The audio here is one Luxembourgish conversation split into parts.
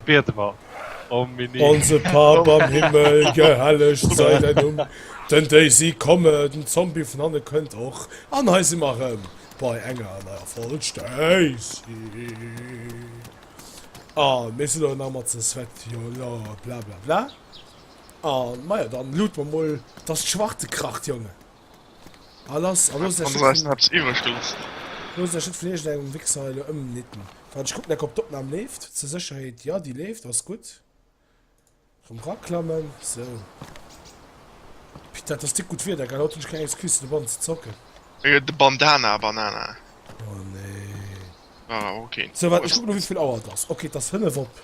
Biede mer om Mini. Onse Pap am Himmel, gehellegt sei däi Numm. Den Daisy komme, den Zombie vun hanne kënnt och, an hei si mer erëm bei enger neier Folg Stacey an mir sinn elo nach mat ze zwett jo lo blablabla an maja dann lude mer mol dass d'Schwarte kracht Jongen. Ah, lass, ah, lass der Shit vun... Hab's iwwerstutz. Lass der Shit vun irgend engem Wichser hei lo ëmnitten. Wart, ech kucken eck, ob d'Opnahm leeft. Zur Sécherheet, jo, déi leeft, ass gutt. Erëm raklammen, sou. Pit, dat ass dick gutt Wieder, gell? Haut hunn ech keng Excuse, fir de Bann ze zocken. Äh, de Bandana, Banana. Oh, nee. War awer okay. Sou, waart, ech kucken lo, wéi vill Auer et ass. Okay, et ass fënnef op.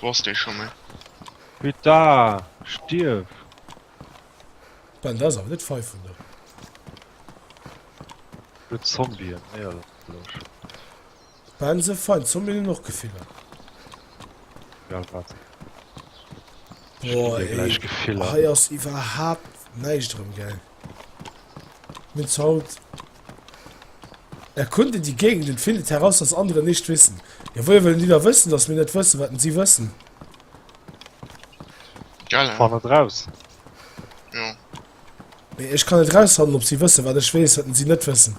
Wou ass dee scho méi? Peta! Stierf! Ben, dat ass awer net feif vun der. Huet Zombien, éierlech. Ben, se fein, Zombien hunn och Gefiller. Ja, wat? Boah, ey, hei ass iwwerhaapt näischt erëm, gell? Mit Salt erkunden die Gegend und findet heraus, was andere nicht wissen. Ja, woher wollen die da wëssen, dass mir net wëssen, wat si wëssen? Geil, hein? Fann et raus! Jo. Mee ech kann net rausfannen, ob si wëssen, wat ech weess, wat si net wëssen.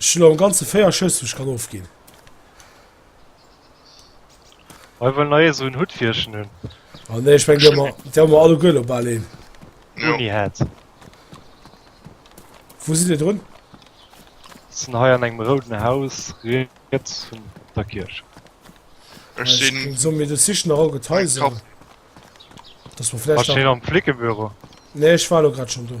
Ech hunn am ganze 4 Schëss wou ech kann ofginn. Ech wëll nach ee sou en Hutt wéi ech en hunn. Ah nee, ech meng déi hu mer, déi hu mer alleguer elo bal een. Jo. Uni hat. Wou sidd Dir drun? Sinn hei an engem rouden Haus riets vun der Kierch. Ech Ech sinn sinn. soen mir du sichen nach all gutt Eng Haiser. Kapp. Dass mer Wat vläicht nach. stinn am Flickebüro? Nee, ech war elo grad schonn do.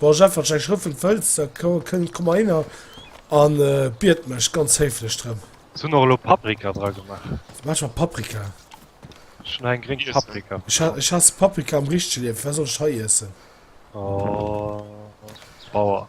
Bon Jeff, wann ech Schrëffel wëlls, da komm mer hinner a bied mech ganz héiflech drëm. Ech hunn och elo Paprika dra gemaach. Wat maach ech mat Paprika? Ech hunn hei eng gréng Paprika verkaaft. Ech haass Paprika am richtege Liewen. Firwat soll ech hei iessen? Oh, Bauer.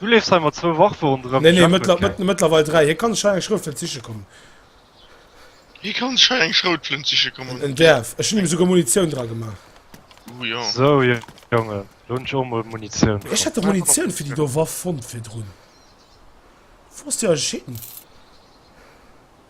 Du leefs hei mat zwou Waffe ronderëm. Nee, nee, mëttler, mëttlerweil dräi. Hie kann sech hei eng Schroutflënt siche kommen. Hie kann sech hei eng Schroutflënt siche kommen. En däerf. Ech hunn him esouguer Munitioun dra gemaach. Oh jo. Sou, Jongen, do hunn ech och emol Munitioun fonnt. Ech hat dach Munitioun fir déi do Waff fonnt virdrun. Wou ass déi ageschnidden?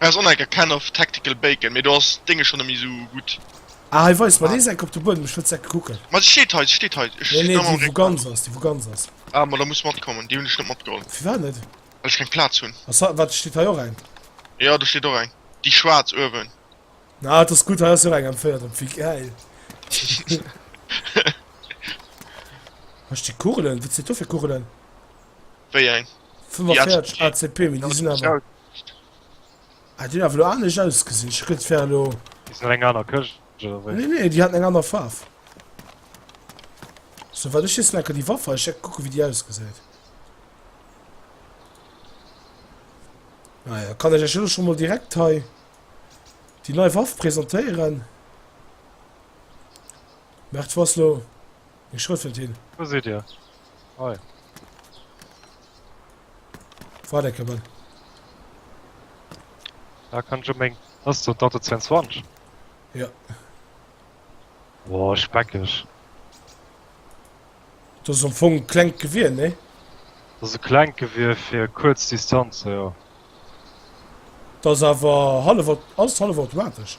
Aus Onneck a Can of Tactical Bacon, mee do ass d'Dénge schon nemmee sou gudd. Ah hei weist mer deen Eck op de Buedem, ech wëll d'Eck kucken. Ma se steet hei, se steet hei. Nee nee, déi wou ganz ass, déi wou ganz ass. Ah ma da muss matkommen, déi hunn ech net matgeholl. Firwat net? Well ech keng Plaz hunn. Ass hei, wat steet hei och eng? Jo do steet och eng, déi schwaarz uewen. Ah dat ass gudd, hei ass jo och eng M4 drop, wéi gäil. Hei stinn Kugelen, wat sinn do fir Kugelen? Wéi eng? 45 ACP, mee déi sinn awer. Ah, déi hun awer elo anescht ausgesinn. Ech hun geduet, et wär elo. Déi sinn an enger aner Këscht, oder wéi? Nee, nee, déi haten eng aner Faarf. Sou wat ech weess, laken déi Waffer. Ech hätt kucken, wéi déi ausgesäit. Naja, kann ech lech elo scho mol direkt hei déi nei Waff presentéieren. Merkt, wou ass elo. Hie schrëffelt hin. Wou sidd Dir? Hei. Wart eng Kéier. Da kann ech op meng. Ass dat dat de 22? Jo. Oh, speckeg. Dat ass am Fong e klengt Gewier, nee? Dat ass e klengt Gewier fir kuerz Distanze, jo. Dat ass awer hallef, ass hallefautomatesch.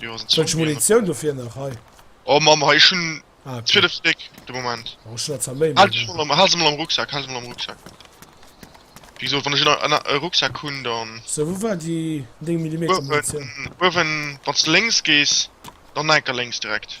Wëllesch Munitioun dofir nach hei? Oh Mamm hei ech hunn 12 Stéck de Moment. Oh ech hunn der zwar méi. Hal dech mol am hal se mol am Rucksack, hal se mol am Rucksack. Wéi gesot wann ech en en e Rucksack hunn dann. Sou wou war déi 9 Millimeter Munitioun? Uewen uewen wann s de lénks gees dann enker lénks direkt.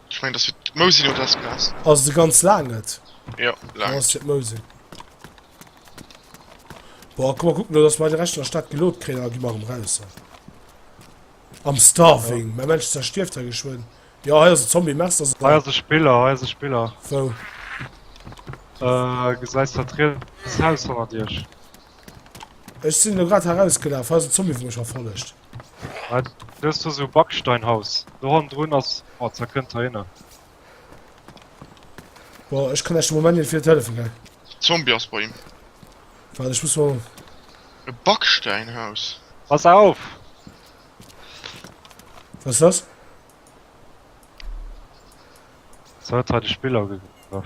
Ech mengen dass fir d'Mousin oder dat Gras. Ass de ganz laang et? Jo laang. Ass fir d'Mousin. Boah, komm mal kucken, dass mer de Recht an der Stad gelot kréien an da gi mer erëm raus hei. Am Starving. Ja. Mäi Männchen zerstierft hei geschwënn. Jo, hei ass e Zombie. Mech dass et. Hei ass e Spiller, hei ass e Spiller. Wou? Äh, gesäis dat riets Haus hannert iech? Ech sinn elo grad hei erausgelaf. Hei ass e Zombie wou mech verfollegt. Dëst ass e Backsteinhaus. Do hannendrun ass. Boah, da kënnt der hinner. Boah, ech kann eischt de Moment net vill hëllefen, gell. Zombie ass bei him. Waart, ech muss mol. E Backsteinhaus. Pass auf! Was ist das? So hat er de Spiller gegraff.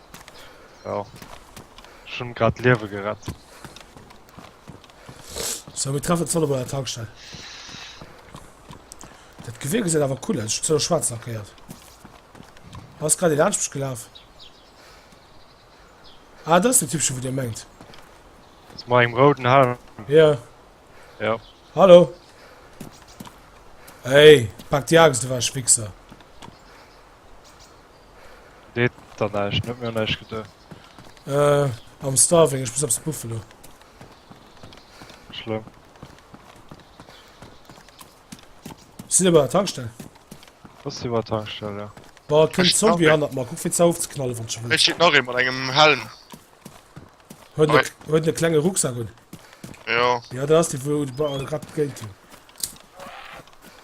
Jo. Ech hunn grad d'Liewe gerett. So, mir treffen Zolle bei der Tankstell. Dat Gewier gesäit awer cool aus. Zu schwarz lackéiert. Ass grad laansch mech gelaf. Ah, das ist der Typchen, wo dir mengt. Das war im roten Haar. Ja. Ja. Hallo. Hey, pack die Axt, du warst Wichser. Deet der näischt, huet mir och näischt geduet. Äh, am Starving, ech muss eppes buffen lo. Schlëmm. Sinn ebe bei der Tankstell. Ass si bei der Tankstell, jo. Boah, et kënnt Zombie hannert mer, kuck fir ze ofzeknallen wann sche wëll. Hei steet nach ee mat engem Helm. Huet en, huet en e klenge Rucksack un. Jo. Ja, dat ass dee wou de Ba, grad gegillt hunn.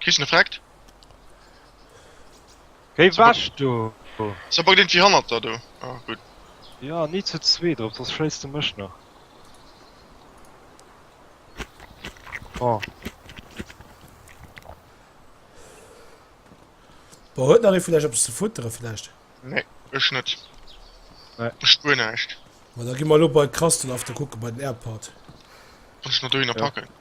Kriss en Effekt? Géi wech do! Ass awer iergendwéi hannert der do. Ah gutt. Jo, ni zu zwee drop, soss schéiss de mech nach. Oh. Bon, huet nach ee vun iech eppes ze futteren vläicht? Nee, ech net. Nee. Ech spuer näischt. Bon, da gi mer elo bei Krustle After kucke bei den Airport. Kann ech mer dohinner Ja. packen?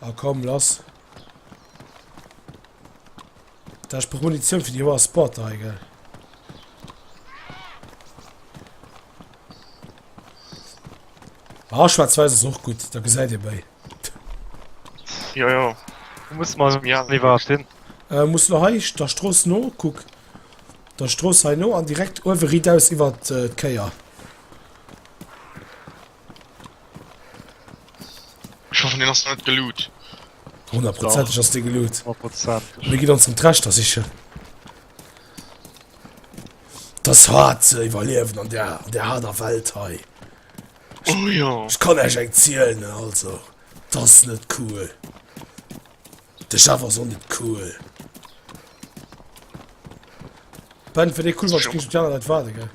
Ah komm, lass. Da ich brauch Munition für die hoher Spot da, gell. Ah, schwarz-weiß ist auch gut, da seid ihr bei. Ja, ja. Du musst mal zum Jan lieber stehen. Äh, musst du hei, der Stroß no, guck. Der Stroß hei no, an direkt oben ried aus über die äh, Keier. Ech hoffen deen ass net geloot. Honnertprozenteg ass dee geloot. Mir gitt ons rëm d'Rechter sichen. Das hart ze iwwerliewen an der an der harder Welt hei. Oh ja. Ech kann eich eng zielen, also. Das net cool. De Chef ass och net cool. Ben, fir dee cool war, kriegst du d'Jana dat warde, gell?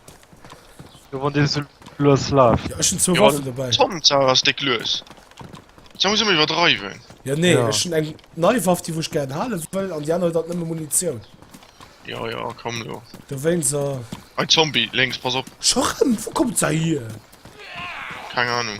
Jo, wann dee so lues laaf. Ja, ech hun zwou Waffen dobäi. Tom, d'Sach ass déck lues. D'Sach muss ëmmer iwwerdreiwen. Ja, nee, Ja. ech hun eng nei Waff, déi wou ech gären hale wëll, an déi aner huet alt nëmme Munitioun. Ja, ja, komm lo. Dowéinst, äh, Ein Zombie, lénks, pass op. scho rëm, wou kommt se hier? Keng Ahnung.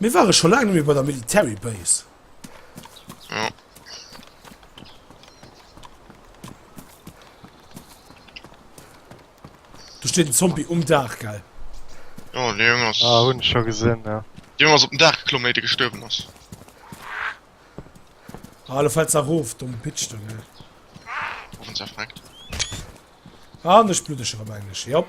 Mir ware scho laang net méi bei der Military Base. Ja. Du steet den Zombie um Dach gell. Ja, de Jong ass. Ah, hunn scho gesinn, ja. De Jong ass op den Dach geklomm, éier de gestuerwen ass. Ah, lo fält se erof, domm Bitch, du, ne? Offen zerfreckt. Ah, an ech bluddeg erëm englech, jop.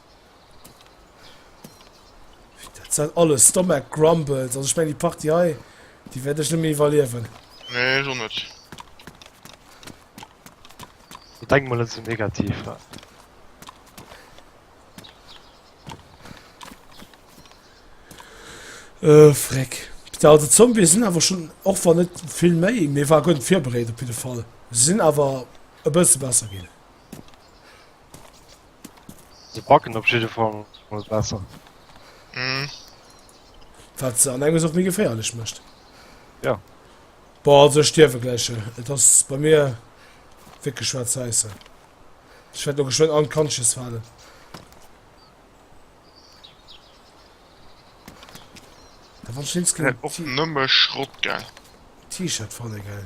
Dat sind alles Stomach Grumbles. Also ich meine, die Party hei, die werde ich nicht mehr überleben. Nee, ich auch nicht. Ich denke mal, das ist negativ. Ja. Äh, Freck. Ja, die Zombies sind aber schon, auch wenn nicht viel mehr, mir war gut vorbereitet auf jeden Fall. Sie sind aber ein bisschen besser gehen. Se backen op jidde Fall mol besser. Mhm. Wat se an enges och méi geféierlech mécht. Ja. Boah, also ech stierwe gläich. Et ass bei mir wierklech schwaarz-wäisse. Ech wäert lo geschwënn unconscious falen. Da wann ech links kënne Och nëmme Schrott, gell? T-Shirt fanne, gell?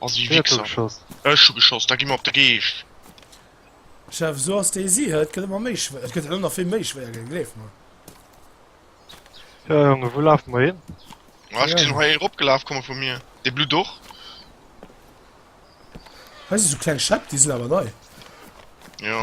Ass ee Wichser. Ech hu geschoss, da gi mer op de Geescht. Chef sou ass déi si, et gëtt ëmmer méi schwéier, et gëtt elo nach vill méi schwéier ginn, gleef mer. Jo Jongen, wou lafe mer hin? Ah ech gesinn hei ee ropgelaf komme vu mir, dee blutt och. Hei si sou kleng Schäpp, déi sinn awer nei. Jo.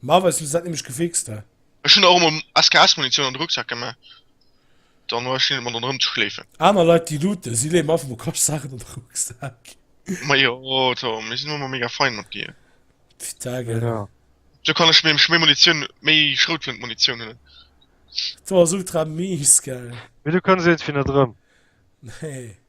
Ma wéis du dat nämlech gefixt hat. Ech hun och emol SKS Munitioun an de Rucksack geman, dann war ech hin et mer dann erëm ze schléifen. Aner Leit déi looten, si léiwen einfach mol Cache Saachen an de Rucksack. Ma jo Tom, mir sin elo emol mega fein mat dir. Putain gell. Sou kann ech nämlech méi Munitioun, méi Schroutflënt Munitioun huelen. Tom ass ultra mies gell. Mee du kënns iergendwéi net erëm. Nee.